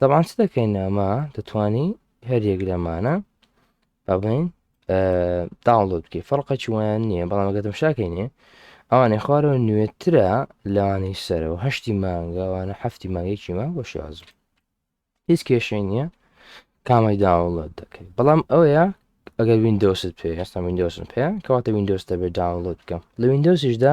دەبان چ دەکەین ئەمە دەتانی هەریەک لەمانە بڵین داڵۆت بکە فەرقە چوان نییە بەڵام گەتم شاکەینێ ئەوانەی خوارەوە نوێترە لەوانەی سەرەوە هەشتی مانگەوانە هەفتی مانگێکی ما بۆ شازم هیچ کێشەی نییە کامەی داوڵەت دەکەیت بەڵام ئەوەیە ئەگەر وینندۆست پێ هەستا وینندۆسن پێ کەواتە وینندۆستە بێ داوڵەت بکەم لە وینندۆسیشدا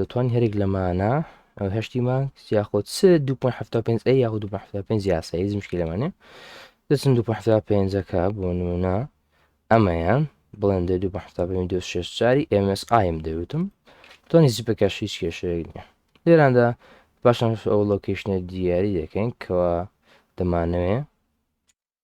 دەتوانین هەرێک لەمانە هەشتی ماکس یاخۆ چ 2.75 ئەی یاخۆ 2.75 یاسا هیچ مشکلەمانە دەچن 2.5ەکە بۆ نمونە ئەمەیە بڵێن دە 2.5 چاری MSIM دەوتم تۆنی زیپەکەش هیچ کێشەیەک نیە لێراندا پاشان ئەو لۆکیشنە دیاری دەکەین کەوا دەمانەوێ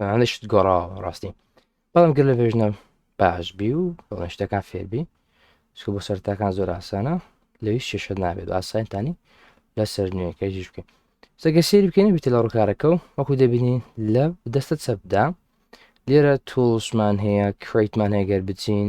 ئەشت گۆڕاوە ڕاستی بەڵام گەر لە ڤێژنە باش بی و بەڵێن شتەکان فێربی سکو بۆ سەرتاکان زۆر ئاسانە لە هیچ شێشە نابێت ئاسانتانی لە سەر نوێەکەیش بکەین سەگە سێری بکەین بیت لە ڕووکارەکە و وەکو دەبینین لە دەستە چەپدا لێرە تۆڵشمان هەیە کریتمان هەیە گەر بچین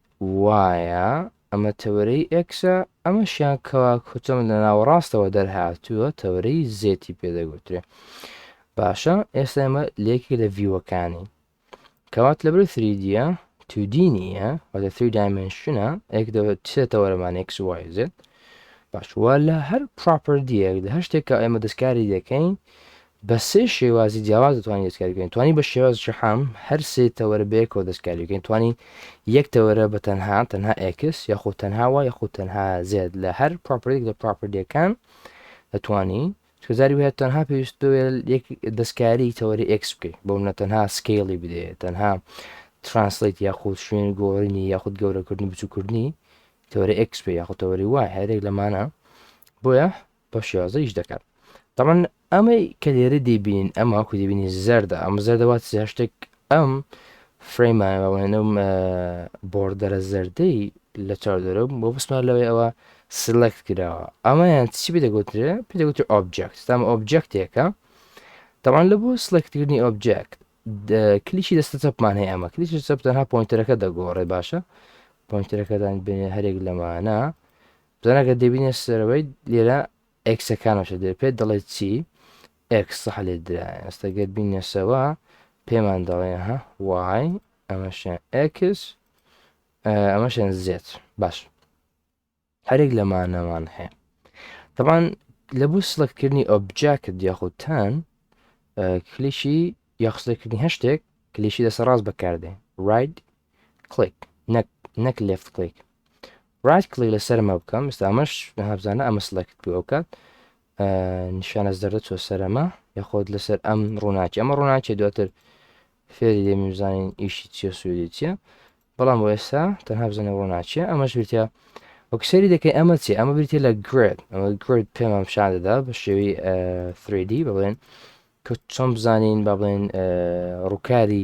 وایە ئەمە تەوەرەی ئێکسە ئەمەشیان کەوا کچم لە ناوەڕاستەوە دەرهاتووە تەوەرەی زێتی پێدەگوترێ باشە ئێستا ئەمە لێکی لە ڤیوەکانی کەوات لەبەر سریدیە تودی نییە و لە سی دایمنشنە ئێک سێ تەوەرەمان ئێکس وایزێت باشوە لە هەر پراپەردیەک لە هەر شتێکە ئێمە دەستکاری دەکەین بە سێ شێوازی جیاواز دەتوانین دەستکاری بکەین، توانی بە شێواز شەحام هەر سێ تەوەرە بەیەکەوە دەستکاری بکەین، توانی یەک تەوەرە بە تەنها، تەنها ئێکس، یاخود تەنها وای یاخود تەنها زێد لە هەر پڕۆپەرتیەک لە پڕۆپەرتیەکان دەتوانی، چونکە جاری وایە تەنها پێویست بوێ یەک دەستکاری تەوەری ئێکس بکەی، بۆ منە تەنها سکەیڵی بدێ، تەنها ترانسلەیت یاخود شوێن گۆڕینی یاخود گەورەکردنی بچوکردنی تەوەری ئێکس بێ یاخود تەوەری وای هەرێک لەمانە، بۆیە بەو شێوازە ئیش دەکەن تەمان ئەمەی کە لێرە دەیبینین ئەم هاکو دەبینی زەردە ئەم زەردەوات هەشتێک ئەم فرەیمانەوەێنم بۆردەرە زەردەی لە چاودەرە بۆ بسمان لەوەی ئەوە سلکت کراوە ئەمەیان چی پێ دەگوترێ پێ دەگوتر ئۆبجێکت تام ئۆبجێکتێکە تاوان لە بۆ سلکتکردنی ئۆبجێکت کلیشی دەستە چەپمان هەیە ئەمە کلیش چەپ تەنها پۆینتەرەکە دەگۆڕێ باشە پۆینتەرەکەدان بێنێ هەرێک لەمانە جانا گەر دەبینێ سەرەوەی لێرە ئێکسەکانەشە دێ پێت دەڵێت چی ئێکس سەح لێ درا ئێستا گەر بینێسەوە پێمان دەڵێ ها وای ئەمەشیان ئێکس ئەمەشیان زێت باش هەرێک لەمانەوان هەیە تەبان لە بۆ سلکردنی ئۆبجاکت یاخودتان کلیشی یاخسلکردنی هەشتێک کلیشی دەسە ڕاست بەکاردێ ڕایت کلیک نەک نەک لێفت کلیک ڕایت کلیک لەسەر مە بکەم ئستا ئەمەش هەبزانە ئەمە سلکت پێ بکات نیشانە زەردە چۆ سەرەمە یاخۆت لەسەر ئەم ڕووناکی ئەمە ڕووناکی دواتر فێری دێمی بزانین ئیشی چیە سوێدی چیە بەڵام بۆ ئێستا تەنها بزانە ڕووناچیە ئەمەش بریتە وەکسری دەکەی ئەمە چی ئەمە بریتە لە گرێت ئەمە گرێت پێمان پیشان دەدا بە شێوی 3D بڵێن کە چۆن بزانین با بڵێن ڕووکاری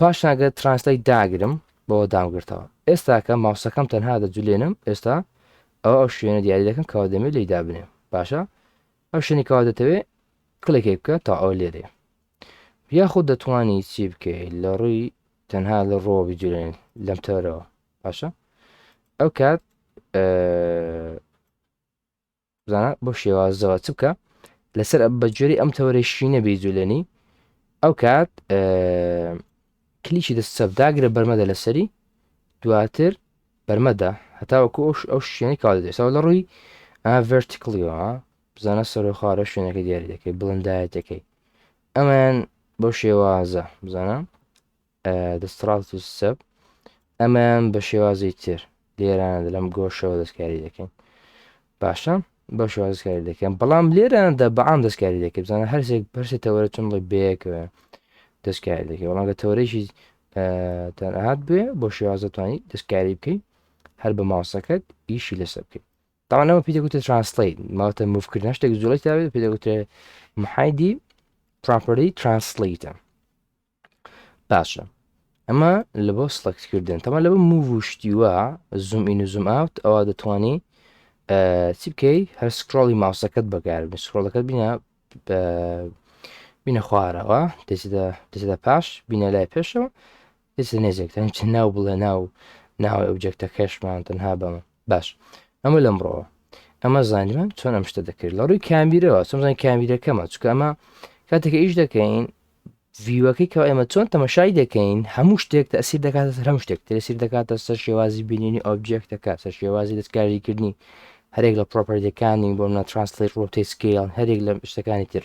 پاشان گەر ترانسلەیت داگرم بەوە دامگرتەوە ئێستاکە ماوسەکەم تەنها دەجولێنم ئێستا ئەو ئەو شوێنە دیاری دەکەم کەوا دەمێ لی دابنێ باشە ئەو شوێنی کەوا دەتەوێ کلێکی بکە تا ئەو لێرێ یاخود دەتوانی چی بکەی لە ڕووی تەنها لە ڕۆوە بجولێن لەم تەرەوە باشە ئەو کات بزانە بۆ شێوازەوە چ بکە لەسەر بە جۆری ئەم تەوەرەی شینە بێ جولێنی ئەو کات کلیشی دەست سەب داگرە بەرمەدە لەسەری دواتر بەرمەدا هەتاوەکو ئەوش ئەو شوێنی کاڵ دەێتەوە لە ڕووی ڤرتیکلیەوە بزانە سەرۆخوارە شوێنەکە دیاری دەکەی بڵندایەتەکەی ئەمەیان بۆ شێوازە بزانە دستڕاکت و سب ئەمەیان بە شێوازی تر لێرانە لەم گۆشەوە دەستکاری دەکەین باشە بە شوازکاری دەکەم بەڵام لێراندا بەعام دەستکاری دەکە بزانە هەرسێک پرسێ تەوەرە چون ڵی بەیەکەوە دەستکاری دەکە بەڵام لە تەوەرەیەکی تەنهات بێ بۆ شێوازەتوانی دەستکاری بکەیت هەر بە ماوسەکەت ئیشی لەسەر بکەیت تاوانەوە پێدەگوتە ترانسلیت ماوەتە مفکردن شتێک زۆڵی تاێت پێدەگوترێ محایدی پراپەری ترانسلیتە باشە ئەمە لە بۆ سڵکتکردن تەمە لە بە موو و شتیوە زوم ئین و زوم ئاوت ئەوە دەتوانی چی بکەی هەر سکرۆڵی ماوسەکەت بەگار بن سکرۆڵەکەت بینە بینە خوارەوە دەێتە پاش بینە لای پێشەوە دەێتە نێزێک تەن چ ناو بڵێ ناو ناوی ئەوجێکتە کەشمان تەنها بەمە باش ئەمە لەمڕەوە ئەمە زانیمان چۆن ئەم شتە دەکرد لە ڕووی کامیرەوە سمزان کامیرەکەمە چکە ئەمە کاتێکە ئیش دەکەین ڤیوەکەی کەوە ئێمە چۆن تەمەشای دەکەین هەموو شتێک تەسیر دەکاتە سەر هەم شتێک تەسیر دەکاتە سەر شێوازی بینینی ئۆبجێکتەکە سەر شێوازی دەستکاریکردنی هەرێک لە پرۆپەرەکانی بۆ منە ترانسلیت ڕۆتی سکیل هەرێک لە شتەکانی تر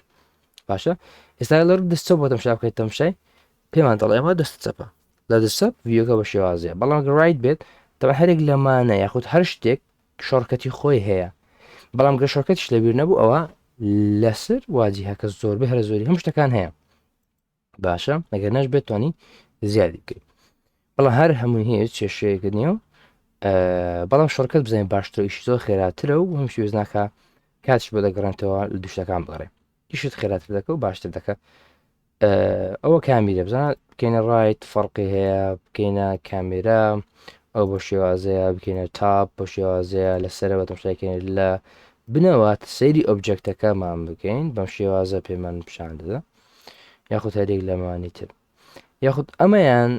باشە ئێستا لە ڕوو دەستە بۆ تەمشا بکەیت تەمشای پێمان دەڵێ ئەمە دەست چەپە لە دەسە ڤیوەکە بە شێوازیە بەڵام گەڕایت بێت تەوە هەرێک لەمانە یاخود هەر شتێک شۆڕکەتی خۆی هەیە بەڵام گە شۆرکەتیش لەبیر نەبوو ئەوە لەسەر واجی هەکە زۆر بە هەرە زۆری هەم شتەکان هەیە باشە نەگەر نەش بێت توانی زیادی بکەیت بەڵام هەر هەمووی هەیە چێشەیەکە نیە و بەڵام شڕکەت بزانین باشترەویش زۆر خێراترە و هەمشی وێزناکە کاتش بۆ دەگەڕێنتەوە لە دوشتەکان بگەڕێ ئیشت خێراتر دەکە و باشتر دەکە ئەوە کامیرە بزان بکەینە ڕایت فەرقی هەیە بکەینە کامێرا ئەو بۆ شێوازەیە بکەینە تاپ بۆ شێوازەیە لە سەرەوە تەمشاکەین لە بنەوات سەیری ئۆبجەکتەکەمان بکەین بەم شێوازە پێمان پیشان دەدا یاخود هەرێک لەمانی تر یاخود ئەمەیان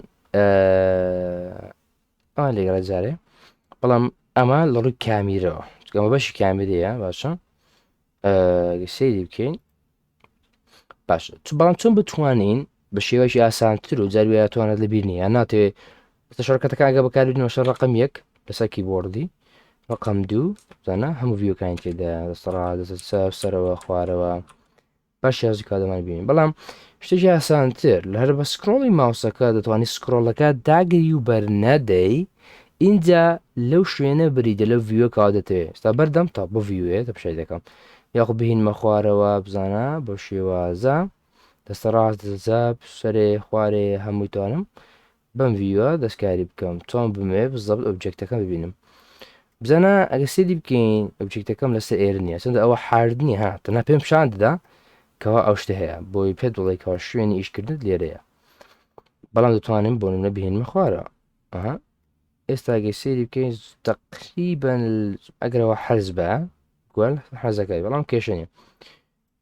ئا لێگەڵە جارێ بەڵام ئەمە لە ڕووی کامیرەوە چکەمە بەشی کامیرەیە باشە سری بکەین باش بەڵام چون بتوانین بە شێوەی ئاسانتر و جاروێتوانە لە بیر نیە ناتێ شەرکەتەکانگە بەکاربینەوە شەر ڕقم یەک لەسەر کیبۆردی ڕقم دوو زانە هەموو ڤیوکانی تێدا دەسەڕا دەسەر سەر سەرەوە خوارەوە باش یازی کادەمان بینین بەڵام شتێکی ئاسانتر لە هەر بە سکرۆڵی ماوسەکە دەتوانانی سکرۆڵەکە داگری و بەرنەدەی ئینجا لەو شوێنە بریدە لەو ڤیوە کەوا دەتەوێت ستا بەردەم تا بۆ ڤیوەیە تە پشای دەکەم یاخو بهینمە خوارەوە بزانە بە شێوازە دەستە ڕاست دەزاب سەرێ خوارێ هەمووتانم بەم ڤیوە دەستکاری بکەم چۆن بمێ بزەبت ئۆبجێکتەکەم ببینم بزانە ئەگە سێدی بکەین ئۆبجێکتەکەم لەسەر ئێر نیە چەندە ئەوە حاردنی ها تەنا پێم شان دەدا کەوا ئەو شتە هەیە بۆی پێ دڵێکەوە شوێنی ئیشکردن لێرەیە بەڵام دەتوانین بۆ نە بهێنمە خوارە ئەها ئێستا گەی سێری بکەین تەقریبەن ئەگەرەوە حەز بە گوال حەزەکەی بەڵام کێشەنی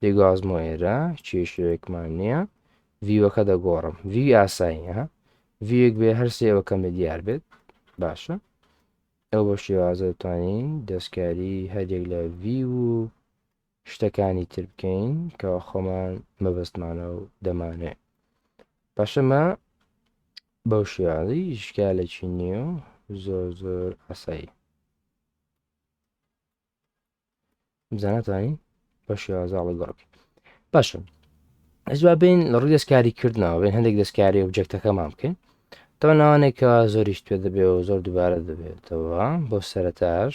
دەگوازمۆ ئێرە کێشەیەکمان نییە ڤیوەکە دەگۆڕم ڤی ئاساییە ڤیەک بێ هەرسێ ئەوە کەم لە دیار بێت باشە ئەو بە شێوازە توانین دەستکاری هەرێک لە ڤی و شتەکانی تر بکەین کەوا خۆمان مەبەستمانە و دەمانەوێ پاشەمە بەو شێوازی شکالێکی نییە و زۆر زۆر ئاسایی بزانەتانی بە شێوازە ئەڵگۆڕکی باشە ئەزوا بین لە ڕووی دەستکاری کردنەوە بین هەندێک دەستکاری و بجەکتەکەمان بکەین تەوە ناوانێکەوە زۆریش توێ دەبێت و زۆر دووبارە دەبێتەوە بۆ سەرتاش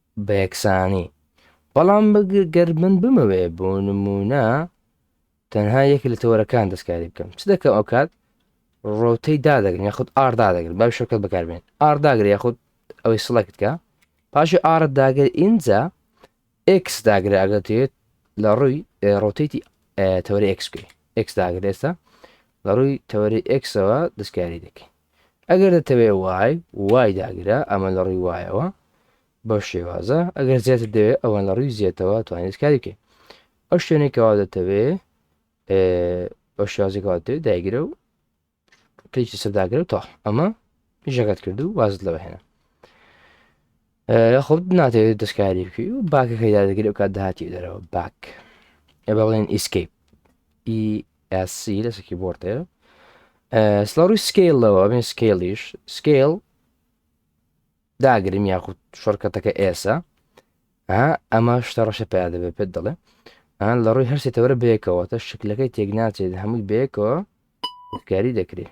بەیەکسانی بەڵام گەر من بمەوێ بۆ نموونە تەنها یەک لە تەوەرەکان دەستکاری بکەم چ دەکەم ئەو کات ڕۆتەی دادەگرن یاخود ئار دادەگرن بەم شەکەت بەکاربێن ئار داگر یاخود ئەوەی سڵکتکە پاشی ئارە داگر ئینجا ئکس داگرە ئەگەتێت لە ڕووی ڕۆتێتی تەوەری ئەکس بکەی ئەکس داگر ئێستا لە ڕووی تەوەری ئەکسەوە دەستکاری دەکەین ئەگەر دەتەوێ وای، وای داگرە، ئەمە لە ڕووی وایەوە بەو شێوازە، ئەگەر زێتت دەوێ ئەوان لە ڕووی زێتەوە توانیت کاری بکەین. ئەو شوێنێک کەوا دەتەوێ بە شێوازێکەوە دەوێت دایگرە و کەیکی سەرداگرە و تا ئەمە ژەکەت کرد و وازت لەوە هێنا. خۆت ناتێت دەستکاری بکەی و باکەکەی دادەگری و کات داهاتی دەرەوە باک ئێ بە بڵێن ئیسکیپ ESC لەسکی بۆرتێ سڵ ڕووی سکیلەوە بێن سکیلیش سکیل داگرم یاخود شەرکەتەکە ئێسە ئەمە شتە ڕەشە پیا دەبێت پێت دەڵێ ئەن لە ڕووی هەرسێتەوەرە بێکەوە تە شکلەکەی تێک ناچێت هەمووی بێکەوە کاری دەکرێت